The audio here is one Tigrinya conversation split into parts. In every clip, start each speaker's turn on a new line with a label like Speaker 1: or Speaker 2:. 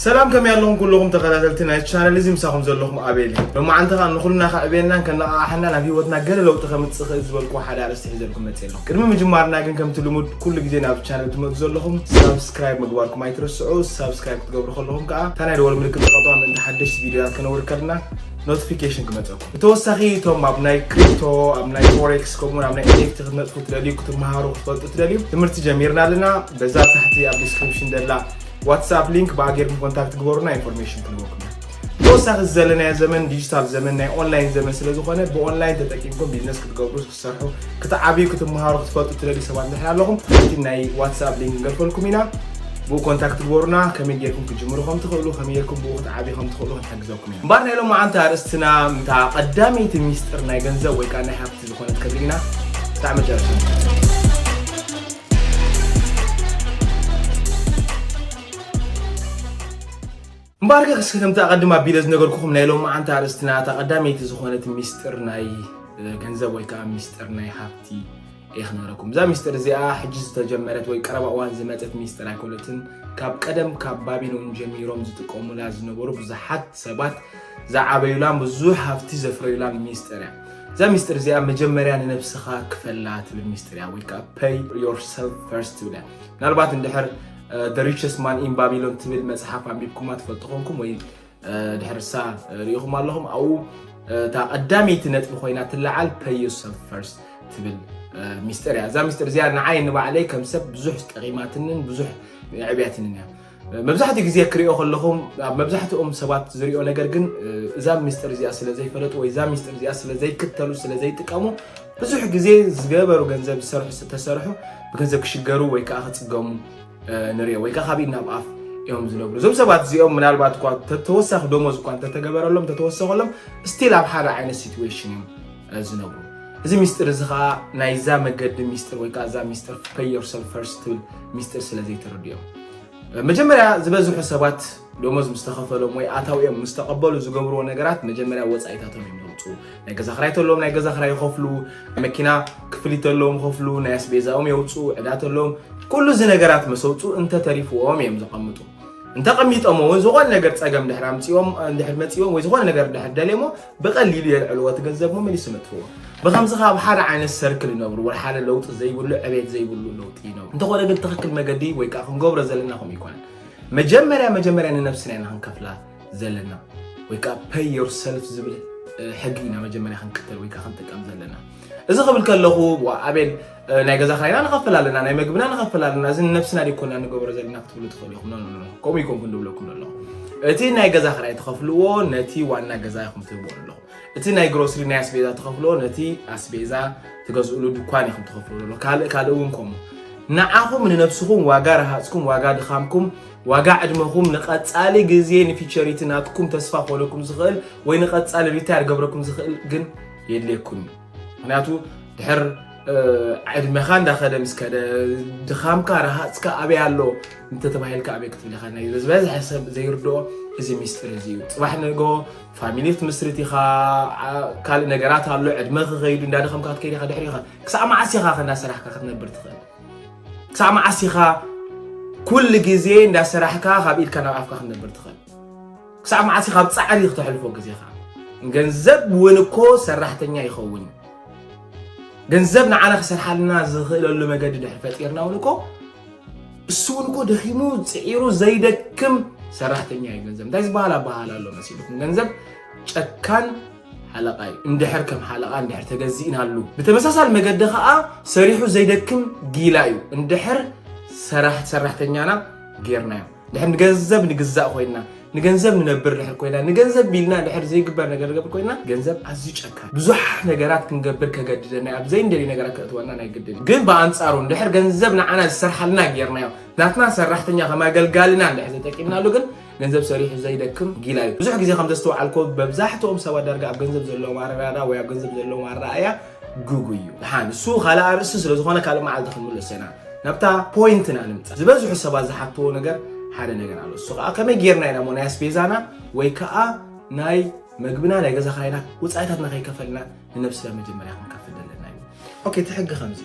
Speaker 1: ሰላም ከመይ ኣለኹም ኩለኹም ተኸታተልቲ ናይ ቻነል እዚ ምሳኹም ዘለኹም ኣቤል እዩ ሎማዓንቲ ከዓ ንኹልና ከዕብየናን ከነቓቕሓናን ኣብ ሂወትና ገለ ለውጢ ከምፅእ ክእል ዝበልኩ ሓደ ኣርእስቲ ሒዘልኩም መፅእ ኣለኹ ቅድሚ ምጅማርና ግን ከምቲ ልሙድ ኩሉ ግዜ ናብ ቻነል ትመፁ ዘለኹም ሳብስክራይብ ምግባርኩም ኣይትረስዑ ሳብስክራይብ ክትገብሩ ከለኹም ከዓ እታ ናይ ደወል ምልክት ተቐጥዋ ምእንቲ ሓደሽቲ ቪድዮታት ከነውር ከልና ኖቲፊኬሽን ክመፀኩም ብተወሳኺ እቶም ኣብ ናይ ክሪፕቶ ኣብ ናይ ፎሬክስ ከምኡ ውን ኣብ ናይ ኤንኤፍቲ ክትነጥፉ ትደልዩ ክትመሃሩ ክትፈልጡ ትደልዩ ትምህርቲ ጀሚርና ኣለና በዛ ኣብ ታሕቲ ኣብ ዲስክሪፕሽን ደላ ዋትስኣፕ ሊንክ ብኣ ጌርኩም ኮንታክት ግበሩና ኢንፎርሜሽን ክንወኩም ኢና ብተወሳኺ ዘለናዮ ዘመን ዲጂታል ዘመን ናይ ኦንላይን ዘመን ስለ ዝኾነ ብኦንላይን ተጠቂምኩም ቢዝነስ ክትገብሩ ክትሰርሑ ክትዓብዩ ክትመሃሩ ክትፈልጡ ትደልዩ ሰባት እንድሕር ኣለኹም እቲ ናይ ዋትስኣፕ ሊንክ ክንገድፈልኩም ኢና ብኡ ኮንታክት ግበሩና ከመይ ጌርኩም ክትጅምሩ ከም ትኽእሉ ከመይ ጌርኩም ብኡ ክትዓብዩ ከም ትኽእሉ ክንሕግዘኩም ኢና እምበር ናይ ሎማዓንቲ ኣርእስትና ምታ ቀዳመይቲ ሚስጥር ናይ ገንዘብ ወይ ከዓ ናይ ሃብቲ ዝኾነት ክንርኢ ኢና ክሳዕ መጨረሻ እምበኣርከ ክስኪ ከምቲ ኣቐድም ኣቢለ ዝነገርኩኹም ናይ ሎማዓንቲ ኣርእስትና እታ ቀዳመይቲ ዝኾነት ሚስጥር ናይ ገንዘብ ወይ ከዓ ሚስጥር ናይ ሃብቲ እየ ክነግረኩም እዛ ሚስጥር እዚኣ ሕጂ ዝተጀመረት ወይ ቀረባ እዋን ዝመፀት ሚስጥር ኣይኮነትን ካብ ቀደም ካብ ባቢሎን ጀሚሮም ዝጥቀሙላ ዝነበሩ ብዙሓት ሰባት ዝዓበዩላን ብዙሕ ሃብቲ ዘፍረዩላን ሚስጥር እያ እዛ ሚስጥር እዚኣ መጀመርያ ንነብስኻ ክፈላ ትብል ሚስጥር እያ ወይ ከዓ ፐይ ዮርሰልፍ ፈርስት ትብል እያ ምናልባት እንድሕር The Richest Man in Babylon ትብል መጽሓፍ ኣንቢብኩማ ትፈልጡ ኮንኩም ወይ ድሕርሳ ርኢኹም ኣለኹም ኣብኡ እታ ቀዳመይቲ ነጥቢ ኮይና ትለዓል ፐይ ዮርሰልፍ ፈርስት ትብል ሚስጥር እያ እዛ ሚስጥር እዚኣ ንዓይ ንባዕለይ ከም ሰብ ብዙሕ ጠቂማትንን ብዙሕ ዕብያትንን እያ መብዛሕትኡ ግዜ ክሪኦ ከለኹም ኣብ መብዛሕትኦም ሰባት ዝሪኦ ነገር ግን እዛ ሚስጥር እዚኣ ስለ ዘይፈለጡ ወይ እዛ ሚስጥር እዚኣ ስለ ዘይክተሉ ስለ ዘይጥቀሙ ብዙሕ ግዜ ዝገበሩ ገንዘብ ዝሰርሑ ዝተሰርሑ ብገንዘብ ክሽገሩ ወይ ከዓ ክፅገሙ ንሪኦ ወይ ከዓ ካብ ኢድ ናብ ኣፍ እዮም ዝነብሩ እዞም ሰባት እዚኦም ምናልባት እኳ ተወሳኺ ደሞዝ እኳ እንተተገበረሎም ተተወሰኸሎም ስቲል ኣብ ሓደ ዓይነት ሲትዌሽን እዮም ዝነብሩ እዚ ሚስጢር እዚ ከዓ ናይዛ መገዲ ሚስጢር ወይ ከዓ እዛ ሚስጢር ፔይ ዮርሰልፍ ፈርስት ትብል ሚስጢር ስለ ዘይተረድኦም መጀመርያ ዝበዝሑ ሰባት ደሞዝ ምስ ተኸፈሎም ወይ ኣታዊኦም ምስ ተቐበሉ ዝገብርዎ ነገራት መጀመርያ ወፃኢታቶም እዮም ዘውፅኡ። ናይ ገዛ ክራይ ተለዎም ናይ ገዛ ክራይ ይኸፍሉ፣ መኪና ክፍሊት ተለዎም ይኸፍሉ፣ ናይ ኣስቤዛኦም የውፅኡ፣ ዕዳ ተለዎም ኩሉ እዚ ነገራት ምስ ኣውፅኡ እንተተሪፍዎም እዮም ዘቐምጡ። እንተቐሚጦም እውን ዝኾነ ነገር ፀገም ድሕር ኣምፅኦም ድሕር መፅኦም ወይ ዝኾነ ነገር ድሕር ደልየሞ ብቐሊሉ የልዕልዎ እቲ ገንዘብ መመሊሱ ይነጥፍዎ ብኸምዚ ከ ኣብ ሓደ ዓይነት ሰርክል ይነብሩ ወላ ሓደ ለውጢ ዘይብሉ ዕቤት ዘይብሉ ለውጢ ይነብሩ እንተኾነ ግን ትኽክል መገዲ ወይ ከዓ ክንገብሮ ዘለና ከምኡ ይኮነን መጀመርያ መጀመርያ ንነብስና ኢና ክንከፍላ ዘለና ወይ ከዓ ፐይ ዮር ሰልፍ ዝብል ሕጊ ኢና መጀመርያ ክንክተል ወይ ከዓ ክንጥቀም ዘለና እዚ ክብል ከለኹ ኣቤል ናይ ገዛ ክራይና ንኸፍል ኣለና፣ ናይ መግብና ንኸፍል ኣለና፣ እዚ ንነብስና ደይኮና ንገብሮ ዘለና ክትብሉ ትኽእሉ ኢኹም። ኖኖኖ ከምኡ ይኮንኩን ድብለኩም ዘለኹ እቲ ናይ ገዛ ክራይ ትኸፍልዎ ነቲ ዋና ገዛ ኢኹም ትህብዎ ኣለኹ። እቲ ናይ ግሮስሪ ናይ ኣስቤዛ ትኸፍልዎ ነቲ ኣስቤዛ ትገዝእሉ ድኳን ኢኹም ትኸፍልዎ ኣለኹ። ካልእ ካልእ እውን ከምኡ ንዓኹም ንነብስኹም ዋጋ ረሃፅኩም ዋጋ ድኻምኩም ዋጋ ዕድመኹም ንቐፃሊ ግዜ ንፊቸሪቲ ናትኩም ተስፋ ክኾነኩም ዝኽእል ወይ ንቐፃሊ ሪታየር ገብረኩም ዝኽእል ግን የድልየኩም እዩ ምክንያቱ ድሕር ዕድመኻ እንዳኸደ ምስ ከደ ድኻምካ ረሃፅካ ኣበይ ኣሎ እንተተባሂልካ ኣበይ ክትብል ኢኻ ናይ ዝበዝሐ ሰብ ዘይርድኦ እዚ ሚስጢር እዚ እዩ ፅባሕ ንጎ ፋሚሊ ክትምስርት ኢኻ ካልእ ነገራት ኣሎ ዕድመ ክኸይዱ እንዳደኸምካ ክትከይድ ኢኻ ድሕሪ ኢኻ ክሳዕ መዓስ ኢኻ ከእንዳሰራሕካ ክትነብር ትኽእል ክሳዕ መዓስ ኢኻ ኩሉ ግዜ እንዳሰራሕካ ካብ ኢድካ ናብ ኣፍካ ክትነብር ትኽእል ክሳዕ መዓስ ኢኻ ኣብ ጻዕሪ ክተሕልፎ ግዜኻ? ገንዘብ እውን እኮ ሰራሕተኛ ይኸውን እዩ። ገንዘብ ንዓና ክሰርሓልና ዝኽእለሉ መገዲ ድሕሪ ፈጢርና እውን እኮ እሱ እውን እኮ ደኺሙ ፅዒሩ ዘይደክም ሰራሕተኛ እዩ ገንዘብ። እንታይ ዝበሃል ኣበሃል ኣሎ መሲልኩም? ገንዘብ ጨካን ሓለቓ እዩ። እንድሕር ከም ሓለቓ እንድሕር ተገዚእናሉ፣ ብተመሳሳሊ መገዲ ከዓ ሰሪሑ ዘይደክም ጊላ እዩ። እንድሕር ሰራሕ ሰራሕተኛና ጌርናዮ ድሕር ንገንዘብ ንግዛእ ኮይና ንገንዘብ ንነብር ድሕር ኮይና ንገንዘብ ቢልና ድሕር ዘይግበር ነገር ገብር ኮይና ገንዘብ ኣዝዩ ጨካ ብዙሓት ነገራት ክንገብር ከገድደና ኣብ ዘይንደልዩ ነገራት ከእትወና ናይ ግድን ግን ብኣንፃሩ ድሕር ገንዘብ ንዓና ዝሰርሓልና ጌርናዮ ናትና ሰራሕተኛ ከም ኣገልጋልና ድሕር ዘጠቂምናሉ ግን ገንዘብ ሰሪሑ ዘይደክም ጊላ እዩ ብዙሕ ግዜ ከም ዘስተውዓልኮ መብዛሕትኦም ሰባት ዳርጋ ኣብ ገንዘብ ዘለዎም ኣረዳዳ ወይ ኣብ ገንዘብ ዘለዎም ኣረኣእያ ግጉይ እዩ ድሓን እሱ ካልእ ኣርእስቲ ስለ ዝኾነ ካልእ መዓልቲ ክንምለሶ ኢና ናብታ ፖይንትና ንምፃእ ዝበዝሑ ሰባት ዝሓትዎ ነገር ሓደ ነገር ኣሎ እሱ ከዓ ከመይ ጌርና ኢና እሞ ናይ ኣስቤዛና ወይ ከዓ ናይ መግብና ናይ ገዛ ክራይና ወፃኢታትና ከይከፈልና ንነብስና መጀመርያ ክንከፍል ዘለና እዩ ኦኬ እቲ ሕጊ ከምዚ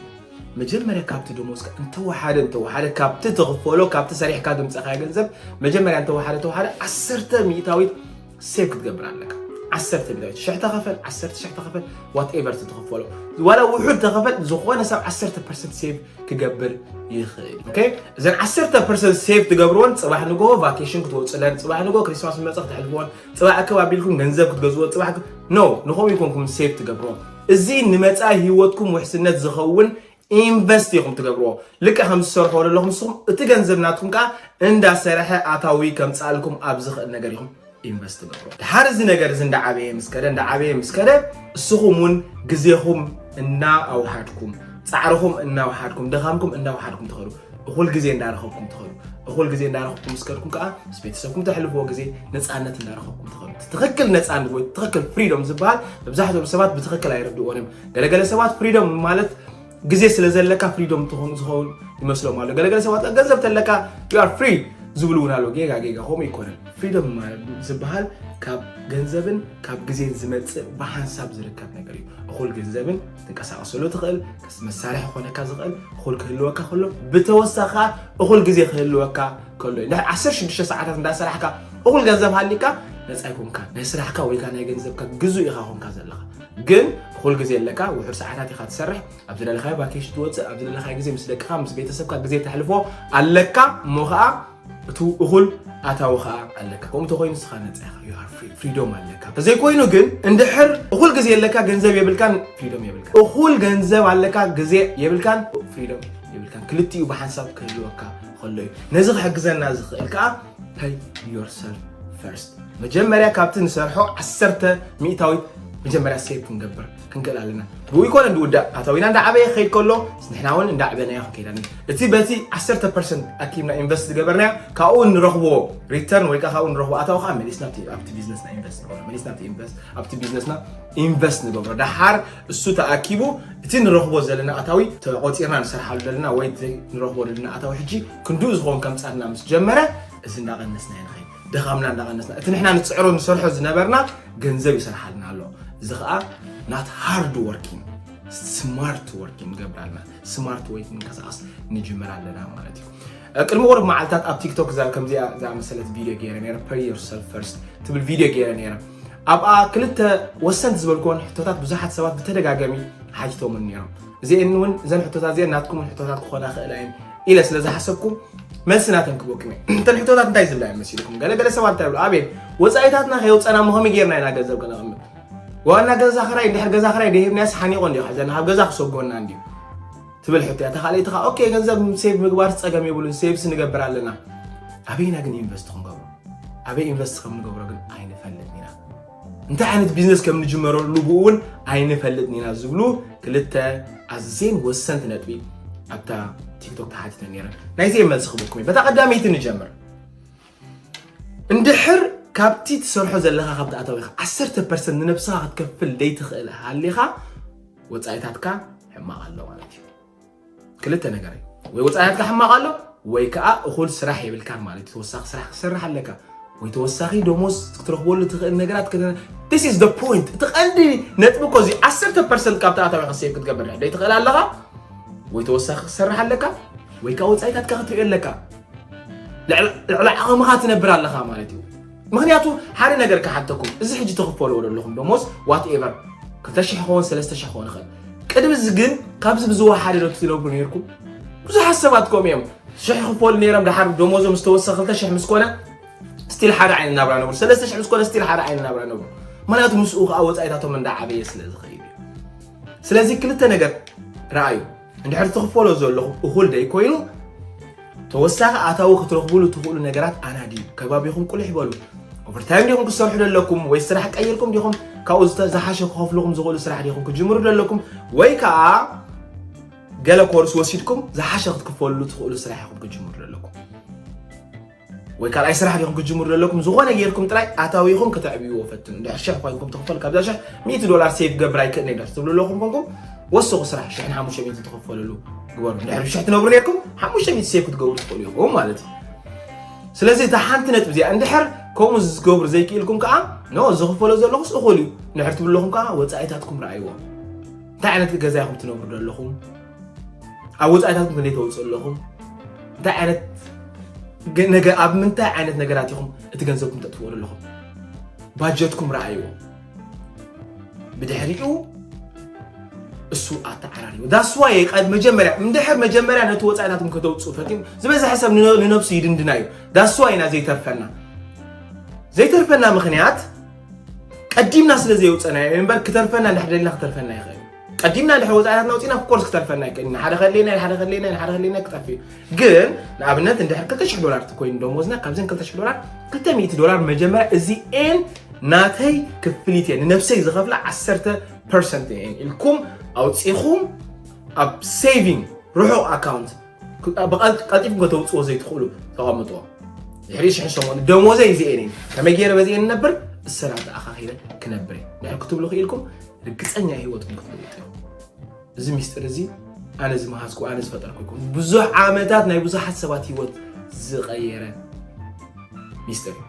Speaker 1: መጀመርያ ካብቲ ደሞዝካ እንተወሓደ እንተወሓደ ካብቲ ትኽፈሎ ካብቲ ሰሪሕካ ድምፀኻዮ ገንዘብ መጀመርያ እንተወሓደ ተወሓደ ዓሰርተ ሚእታዊት ሴቭ ክትገብር ኣለካ ዓሰርተ ቢታዊት ሽሕ ተኸፈል ዓሰርተ ሽሕ ተኸፈል ዋትኤቨር ትትኸፈሎ ዋላ ውሑድ ተኸፈል ዝኾነ ሰብ ዓሰርተ ፐርሰንት ሴቭ ክገብር ይኽእል ኦኬ እዘን ዓሰርተ ፐርሰንት ሴቭ ትገብርዎን ፅባሕ ንግሆ ቫኬሽን ክትወፅለን ፅባሕ ንግሆ ክሪስማስ መፀ ክትሕልፍዎን ፅባሕ እክብ ኣቢልኩም ገንዘብ ክትገዝዎ ፅባሕ ኖ ንኸምኡ ይኮንኩም ሴቭ ትገብርዎ እዚ ንመፃኢ ህይወትኩም ውሕስነት ዝኸውን ኢንቨስት ኢኹም ትገብርዎ ልክዕ ከም ዝሰርሖ ዘለኹም ንስኹም እቲ ገንዘብ ናትኩም ከዓ እንዳሰረሐ ኣታዊ ከምፃልኩም ኣብ ዝኽእል ነገር ኢኹም ኢንቨስት ትገብሮ ድሓር እዚ ነገር እዚ እንዳዓበየ ምስ ከደ እንዳዓበየ ምስ ከደ እስኹም እውን ግዜኹም እናኣውሓድኩም ፃዕርኹም እናውሓድኩም ድኻምኩም እናውሓድኩም ትኸዱ እኹል ግዜ እንዳረኸብኩም ትኸዱ እኹል ግዜ እንዳረኸብኩም ምስ ከድኩም ከዓ ምስ ቤተሰብኩም ተሕልፍዎ ግዜ ነፃነት እንዳረኸብኩም ትኸዱ እቲ ትኽክል ነፃነት ወይ ትኽክል ፍሪዶም ዝበሃል መብዛሕትኦም ሰባት ብትኽክል ኣይርድእዎን እዮም ገለገለ ሰባት ፍሪዶም ማለት ግዜ ስለ ዘለካ ፍሪዶም ትኾኑ ዝኸውን ይመስሎም ኣሎ ገለገለ ሰባት ከ ገንዘብ ተለካ ዩ ኣር ፍሪ ዝብሉ እውን ኣለዉ ጌጋ ጌጋ ከምኡ ይኮነን ፍሪዶም ማለት ዝበሃል ካብ ገንዘብን ካብ ግዜን ዝመፅእ ብሓንሳብ ዝርከብ ነገር እዩ እኹል ገንዘብን ትንቀሳቀሰሉ ትኽእል መሳርሒ ክኾነካ ዝኽእል እኹል ክህልወካ ከሎ ብተወሳኺ ከዓ እኹል ግዜ ክህልወካ ከሎ እዩ ድሕሪ 16 ሰዓታት እንዳሰራሕካ እኹል ገንዘብ ሃሊካ ነፃ ኣይኮንካ ናይ ስራሕካ ወይ ከዓ ናይ ገንዘብካ ግዙእ ኢኻ ኮንካ ዘለኻ ግን እኹል ግዜ ኣለካ ውሑድ ሰዓታት ኢኻ ትሰርሕ ኣብ ዝደለኻዮ ቫኬሽን ትወፅእ ኣብ ዝደለኻዮ ግዜ ምስ ደቅኻ ምስ ቤተሰብካ ግዜ ተሕልፎ ኣለካ እሞ ከዓ እቱ እኹል ኣታዊ ኸኣ ኣለካ ከምኡ ተኾይኑ ንስኻ ነፃ ኢኻ you are free ፍሪዶም ኣለካ ተዘይኮይኑ ግን እንድሕር እኹል ግዜ ኣለካ ገንዘብ የብልካን ፍሪዶም የብልካ እኹል ገንዘብ ኣለካ ግዜ የብልካን ፍሪዶም የብልካን ክልቲኡ ብሓንሳብ ክህልወካ ከሎ እዩ ነዚ ክሕግዘና ዝኽእል ከዓ ፐይ ዮርሰልፍ ፈርስት መጀመርያ ካብቲ ንሰርሖ ዓሰርተ ሚእታዊት መጀመርያ ሴቭ ክንገብር ክንክእል ኣለና ብኡ ይኮነ ብውዳእ ኣታዊና እንዳዓበየ ክኸይድ ከሎ ንሕና እውን እንዳዕበናዮ ክንከይድ ኣለና እቲ በቲ 10 ፐርሰንት ኣኪብና ኢንቨስት ዝገበርናዮ ካብኡ ንረኽቦ ሪተርን ወይ ከዓ ካብኡ ንረኽቦ ኣታዊ ከዓ መሊስና ኣብቲ ቢዝነስና ኢንቨስት ንገብሮ መሊስና ኣብቲ ቢዝነስና ኢንቨስት ንገብሮ ደሓር እሱ ተኣኪቡ እቲ ንረኽቦ ዘለና ኣታዊ ተቆፂርና ንሰርሓሉ ዘለና ወይ ንረኽቦ ዘለና ኣታዊ ሕጂ ክንድኡ ዝኸውን ከምፃልና ምስ ጀመረ እዚ እንዳቐነስና ይንኸይድ ድኻምና እንዳቐነስና እቲ ንሕና ንፅዕሮ ንሰርሖ ዝነበርና ገንዘብ ይሰርሓልና ኣሎ እዚ ከዓ ናት ሃርድ ወርኪን ስማርት ወርኪን ገብራልና ስማርት ወይ ምንቀሳቐስ ንጅምር ኣለና ማለት እዩ ቅድሚ ቁርብ መዓልትታት ኣብ ቲክቶክ እዛ ከምዚኣ ዝኣመሰለት ቪድዮ ገይረ ነረ ፐሪ ዮርሰልፍ ፈርስት ትብል ቪድዮ ገይረ ነረ ኣብኣ ክልተ ወሰንቲ ዝበልክዎን ሕቶታት ብዙሓት ሰባት ብተደጋጋሚ ሓቲቶምን ነሮም እዚአን እውን እዘን ሕቶታት እዚአን ናትኩምን ሕቶታት ክኾና ክእላ እየን ኢለ ስለ ዝሓሰብኩ መልሲ ናተን ክበኩም እየ እተን ሕቶታት እንታይ ዝብላ እየን መሲልኩም ገለገለ ሰባት እንታይ ይብሉ ኣቤት ወፃኢታትና ከየውፀና እሞ ከመይ ጌርና ኢና ገንዘብ ከነቕምጥ ዋና ገዛ ክራይ እንድሕር ገዛ ክራይ ደሂብናስ ሓኒቆ እንዲ ሓዘና ካብ ገዛ ክሰጎና እንድዩ ትብል ሕቶ እያ ተካልኣይቲ ከዓ ኦኬ ገንዘብ ሴቭ ምግባር ፀገም የብሉን ሴቭስ ንገብር ኣለና ኣበይና ግን ኢንቨስት ክንገብሮ ኣበይ ኢንቨስት ከም ንገብሮ ግን ኣይንፈልጥን ኢና እንታይ ዓይነት ቢዝነስ ከም ንጅመረሉ ብኡ እውን ኣይንፈልጥን ኢና ዝብሉ ክልተ ኣዝየን ወሰንቲ ነጥቢ ኣብታ ቲክቶክ ተሓቲተን ነይረን ናይዘየ መልሲ ክብልኩም እዩ በታ ቀዳመይቲ ንጀምር እንድሕር ካብቲ ትሰርሖ ዘለካ ካብቲ ኣታዊካ 1 ፐርሰንት ንነብስኻ ክትከፍል ዘይትኽእል ሃሊኻ ወፃኢታትካ ሕማቕ ኣሎ ማለት እዩ ክልተ ነገር እዩ ወይ ወፃኢ ሃብቲ ሕማቕ ኣሎ ወይ ከዓ እኹል ስራሕ የብልካን ማለት እዩ ተወሳኺ ስራሕ ክሰርሕ ኣለካ ወይ ተወሳኺ ደሞዝ ክትረኽበሉ ትኽእል ነገራት ስ ኢዝ ፖይንት እቲ ቀንዲ ነጥቢ እኮ እዚ 10 ፐርሰንት ካብቲ ኣታዊካ ሴቭ ክትገብር ዶ ይትኽእል ኣለኻ ወይ ተወሳኺ ክሰርሕ ኣለካ ወይ ከዓ ወፃኢታትካ ክትሪኦ ኣለካ ልዕሊ ዓቕምኻ ትነብር ኣለኻ ማለት እዩ ምኽንያቱ ሓደ ነገር ክሓተኩም እዚ ሕጂ ትኽፈልዎ ዘለኹም ደሞዝ ዋት ኤቨር ክልተ ሽሕ ክኸውን ሰለስተ ሽሕ ክኸውን ይኽእል ቅድሚ እዚ ግን ካብዚ ብዝወሓደ ዶ ትነብሩ ነይርኩም ብዙሓት ሰባት ከምኡ እዮም ሽሕ ክፈሉ ነይሮም ድሓር ደሞዞም ዝተወሰ ክልተ ሽሕ ምስ ኮነ ስቲል ሓደ ዓይነት ናብራ ነብሩ ሰለስተ ሽሕ ምስ ኮነ ስቲል ሓደ ዓይነት ናብራ ነብሩ ምክንያቱ ምስኡ ከዓ ወፃኢታቶም እንዳዓበየ ስለ ዝኸይድ እዩ ስለዚ ክልተ ነገር ረኣዩ እንድሕር ትኽፈሎ ዘለኹም እኹል ዘይኮይኑ ተወሳኺ ኣታዊ ክትረኽቡሉ ትኽእሉ ነገራት ኣናድዩ። ከባቢኹም ቁልሕ በሉ። ኦቨርታይም ዲኹም ክትሰርሑ ዘለኩም ወይ ስራሕ ቀይርኩም ዲኹም ካብኡ ዝሓሸ ክኸፍልኹም ዝኽእሉ ስራሕ ዲኹም ክጅምሩ ዘለኩም ወይ ከዓ ገለ ኮርስ ወሲድኩም ዝሓሸ ክትክፈልሉ ትኽእሉ ስራሕ ኢኹም ክጅምሩ ዘለኩም ወይ ካልኣይ ስራሕ ዲኹም ክትጅምሩ ዘለኩም ዝኾነ ጌርኩም ጥራይ ኣታዊኹም ከተዕብይዎ ፈትኑ ድሕር ሽሕ ኮይንኩም ትኽፈሉ ካብዛ ሽሕ ሚእቲ ዶላር ሴቭ ገብር ኣይክእልኒ ድሕር ትብሉ ኣለኹም ኮንኩም ወስኹ ስራሕ ሽሕን ሓሙሽተ ሚእቲ ትኽፈልሉ ግበሩ ድሕር ሽሕ ትነብሩ ኔርኩም ሓሙሽተ ሚእቲ ሴቭ ክትገብሩ ትኽእሉ ኢኹም ማለት እዩ ስለዚ እታ ሓንቲ ነጥቢ እዚኣ እንድሕር ከምኡ ዝገብሩ ዘይክኢልኩም ከዓ ኖ ዝኽፈሎ ዘለኹስ እኹል እዩ ንድሕር ትብሉ ኣለኹም ከዓ ወፃኢታትኩም ረኣይዎ እንታይ ዓይነት ገዛ ኢኹም ትነብሩ ዘለኹም ኣብ ወፃኢታትኩም ክንደይ ተውፅእ ኣለኹም እንታይ ዓይነት ነገ ኣብ ምንታይ ዓይነት ነገራት ኢኹም እቲ ገንዘብኩም ተጥፍእሉ ኣለኹም ባጀትኩም ረኣይዎ ብድሕሪኡ እሱ ኣተዓራሪቡ ዳስዋየ ቀድ መጀመርያ እንድሕር መጀመርያ ነቲ ወፃኢታትኩም ከተውፅኡ ፈትም ዝበዝሐ ሰብ ንነብሱ ይድንድና እዩ ዳስዋ ኢና ዘይተርፈና ዘይተርፈና ምክንያት ቀዲምና ስለ ዘየውፀናዮ እምበር ክተርፈና እንድሕር ደልና ክተርፈና ይኽእል ቀዲምና እንድሕር ወፃኢታትና ውፅኢና ኮርስ ክተርፈና እዩ ቀዲምና ሓደ ከሌና ሓደ ከሌና ሓደ ከሌና ክጠፍ እዩ ግን ንኣብነት እንድሕር 200 ዶላር ኮይኑ ደሞዝና ካብዘን 200 ዶላር 200 ዶላር መጀመርያ እዚኤን ናተይ ክፍሊት እየ ንነብሰይ ዝኸፍላ 10 ፐርሰንት እየን ኢልኩም ኣውፂኹም ኣብ ሴቪንግ ርሑቕ ኣካውንት ብቐልጢፍኩም ከተውፅዎ ዘይትኽእሉ ተቐምጥዎ ድሕሪ ሽሕን ሰሙን ደሞዘይ እዚኤን እየን ከመይ ገይረ በዚኤን ነብር እሰራት ኣኻኺበ ክነብር እየ ድሕር ክትብሉ ክኢልኩም ርግጸኛ ህይወት ግን ክትልውጥ እዩ እዚ ሚስጢር እዚ ኣነ ዝመሃዝኩ ኣነ ዝፈጠርኩ ይኮኑ ብዙሕ ዓመታት ናይ ብዙሓት ሰባት ህይወት ዝቐየረ ሚስጢር እዩ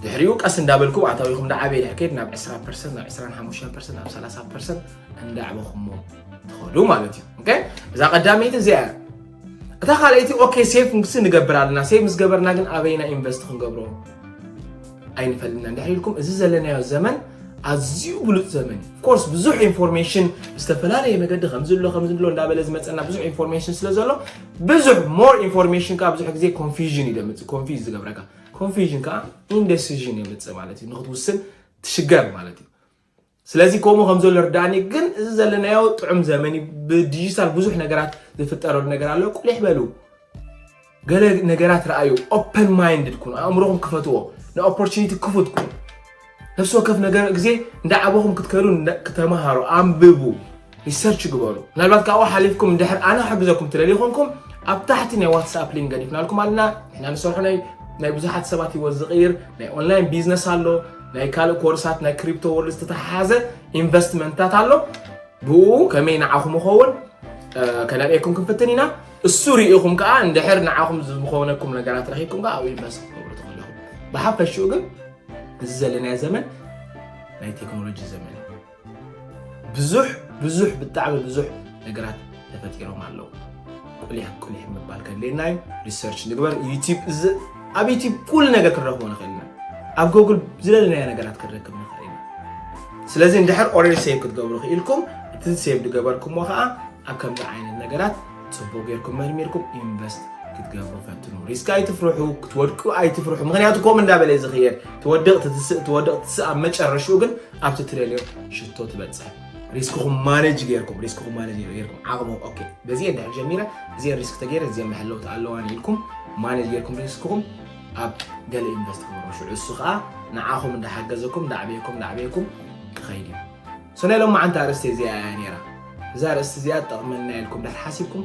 Speaker 1: ድሕሪኡ ቀስ እንዳበልኩ ኣታዊኹም ዳዓበየ ድሕር ከይድ ናብ 20 ፐርሰንት ናብ 25 ፐርሰንት ናብ 30 ፐርሰንት እንዳዕበኹሞ ትኸዱ ማለት እዩ እዛ ቀዳመይቲ እዚኣ እታ ካልኣይቲ ኦኬ ሴቭ ምስ ንገብር ኣለና ሴቭ ምስ ገበርና ግን ኣበይና ኢንቨስት ክንገብሮ ኣይንፈልጥና እንድሕር ኢልኩም እዚ ዘለናዮ ዘመን ኣዝዩ ብሉፅ ዘመን እዩ ኮርስ ብዙሕ ኢንፎርሜሽን ዝተፈላለየ መገዲ ከምዚ ኣሎ ከምዚ ኣሎ እንዳበለ ዝመፀና ብዙሕ ኢንፎርሜሽን ስለ ዘሎ ብዙሕ ሞር ኢንፎርሜሽን ከዓ ብዙሕ ግዜ ኮንፊዥን እዩ ደምፅእ ኮንፊዝ ዝገብረካ ኮንፊዥን ከዓ ኢንደሲዥን የምፅእ ማለት እዩ ንክትውስን ትሽገር ማለት እዩ ስለዚ ከምኡ ከም ዘሎ ርዳእኒ ግን እዚ ዘለናዮ ጥዑም ዘመን እዩ ብዲጂታል ብዙሕ ነገራት ዝፍጠረሉ ነገር ኣሎ ቁሊሕ በሉ ገለ ነገራት ረኣዩ ኦፐን ማይንድድ ኩኑ ኣእምሮኹም ክፈትዎ ንኦፖርቹኒቲ ክፉት ኩኑ ነፍሲ ወከፍ ነገር ግዜ እንዳዓበኹም ክትከዱ ክተምሃሩ ኣንብቡ ሪሰርች ግበሩ ምናልባት ካብኡ ሓሊፍኩም እንድሕር ኣነ ክሕግዘኩም ትደልዩ ኮንኩም ኣብ ታሕቲ ናይ ዋትስኣፕ ሊንክ ገዲፍናልኩም ኣለና ንሕና ንሰርሖ ናይ ናይ ብዙሓት ሰባት ሂወት ዝቕይር ናይ ኦንላይን ቢዝነስ ኣሎ ናይ ካልእ ኮርሳት ናይ ክሪፕቶ ወርልድ ዝተተሓሓዘ ኢንቨስትመንትታት ኣሎ ብኡ ከመይ ንዓኹም ይኸውን ከነርእየኩም ክንፍትን ኢና እሱ ርኢኹም ከዓ እንድሕር ንዓኹም ዝኾነኩም ነገራት ረኺብኩም ከዓ ኣብኡ ኢንቨስት ክትገብሩ ትኽእሉ ብሓፈሽኡ ግን እዚ ዘለናዮ ዘመን ናይ ቴክኖሎጂ ዘመን ብዙሕ ብዙሕ ብጣዕሚ ብዙሕ ነገራት ተፈጢሮም ኣለዉ ቁሊሕ ቁሊሕ ምባል ከድልየና እዩ ሪሰርች ንግበር ዩቲብ ኣብ ዩቲብ ኩሉ ነገር ክንረክቦ ንኽእል ኢና ኣብ ጎግል ዝደለናዮ ነገራት ክንረክብ ንኽእል ኢና ስለዚ እንድሕር ኦልሬዲ ሴቭ ክትገብሩ ክኢልኩም እቲ ሴቭ ዝገበርኩምዎ ከዓ ኣብ ከምዚ ዓይነት ነገራት ፅቡቅ ጌርኩም መርሚርኩም ኢንቨስት ክትገብሩ ፈትኑ ሪስክ ኣይትፍርሑ ክትወድቁ ኣይትፍርሑ ምክንያቱ ከምኡ እንዳበለ ዝኽየድ ትወድቅ ትትስእ ትወድቅ ትስእ ኣብ መጨረሽኡ ግን ኣብ ትትደልዮ ሽቶ ትበፅሕ ሪስክኹም ማነጅ ጌርኩም ሪስክኹም ማነጅ ጌርኩም ዓቕሙ ኦኬ በዚ ድሕር ጀሚረ እዚአ ሪስክ ተገይረ እዚአ መሐለውቲ ኣለዋን ኢልኩም ማነጅ ጌርኩም ሪስክኹም ኣብ ገለ ኢንቨስት ክገብሩ ሽዑ እሱ ከዓ ንዓኹም እንዳሓገዘኩም እንዳዕበየኩም እንዳዕበየኩም ክኸይድ እዩ ሶ ናይ ሎማዓንቲ ኣርእስቲ እዚኣ እያ ነይራ እዛ ኣርእስቲ እዚኣ ትጠቕመና ኢልኩም እንዳተሓሲብኩም